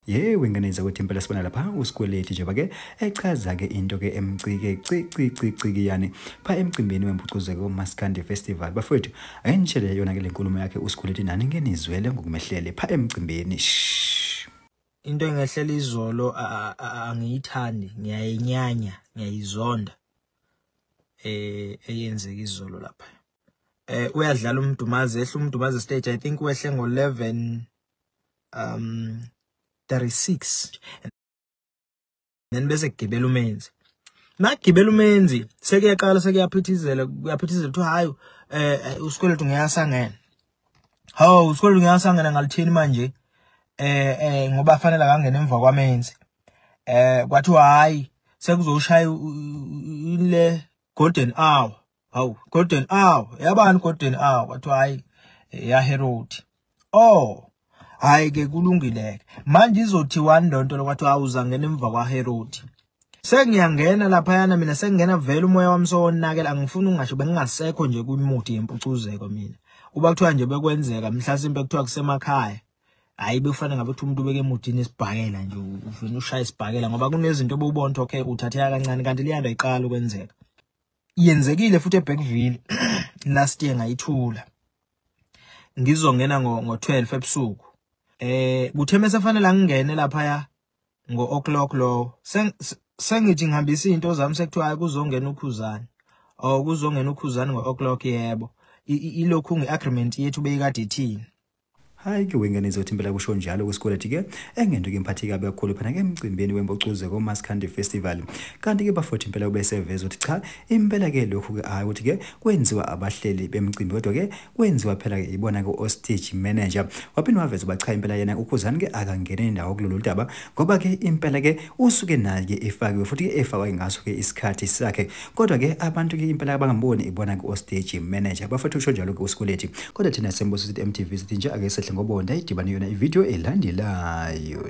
ye wengeneza ukuthi impela sibona lapha usikweleti njengoba ke echaza ke into ke emcike ciciciciki yani pha emcimbini wempucuzeko umaskandi festival bafowethu ayinishele yona ke le nkulumo yakhe usikweleti nani ngenizwele ngokumehlele pha emcimbini into engehlela izolo angiyithandi ngiyayinyanya ngiyayizonda eh eyenzeka izolo lapha eh uyadlala umdumazi ehle umdumazi stage i think wehle ngo 11 um 36 then bese kugibela umenzi nakugibela umenzi sekuyaqala sekuyaphithizela kuyaphithizela kuthiwa hayi eh usikweletu ngeyasangene Hawu uSikhole ngiyasangena ngalithini manje eh eh ngoba fanele akangena emva kwamenzi. Eh kwathiwa hayi sekuzoshaya ile golden hour. Hawu golden hour yabani golden hour kwathiwa hayi eh, ya Herod. Oh hayi ke kulungileke manje izothiwani lonto lokwathiwa awuzangena emva kwa Herod. sengiyangena laphayana mina sengingena vele umoya wami sowonakela angifuni ungasho bengingasekho nje kwimuthi yempucuzeko mina kuba kuthiwa nje bekwenzeka mhlasimpe kuthiwa kusemakhaya hayi bekufanele ngabe ukuthi umuntu ubeke emudini esibhakela nje ufuna ushaya isibhakela ngoba kunezinto obubona ukuthi okay uthatheka kancane kanti liyanda iqala ukwenzeka yenzekile futhi eBackville last year ngayithula ngizongena ngo 12 ebusuku eh kuthe mesefanele angene lapha ya ngo o'clock lowo sengithi ngihambisa izinto zami sekuthiwa hayi kuzongena ukhuzane or kuzongena ukhuzane ngo o'clock yebo ilokhu ngi agreement yethu beyikade ithini hayi ke wengane izothi impela kusho njalo kwisikweleti ke engento ke mphathi kabi kakhulu phana ke emcimbini wembocuze komaskandi festival kanti ke bafothi impela ubeseveza ukuthi cha impela ke lokhu ke hayi ukuthi ke kwenziwa abahleli bemcimbi kodwa ke kwenziwa phela ke ibona ke ostage manager waphinde waveza uba cha impela yena ukhuzani ke akangene indawo kulolu daba ngoba ke impela ke usuke naye ke efakiwe futhi ke efakwa ke ngaso ke isikhathi sakhe kodwa ke abantu ke impela abangamboni ibona ke ostage manager bafethu usho njalo ke uSikwelethi kodwa thina sembuso sithi MTV sithi nje ake sehle ngobonda idibane yona ivideo elandelayo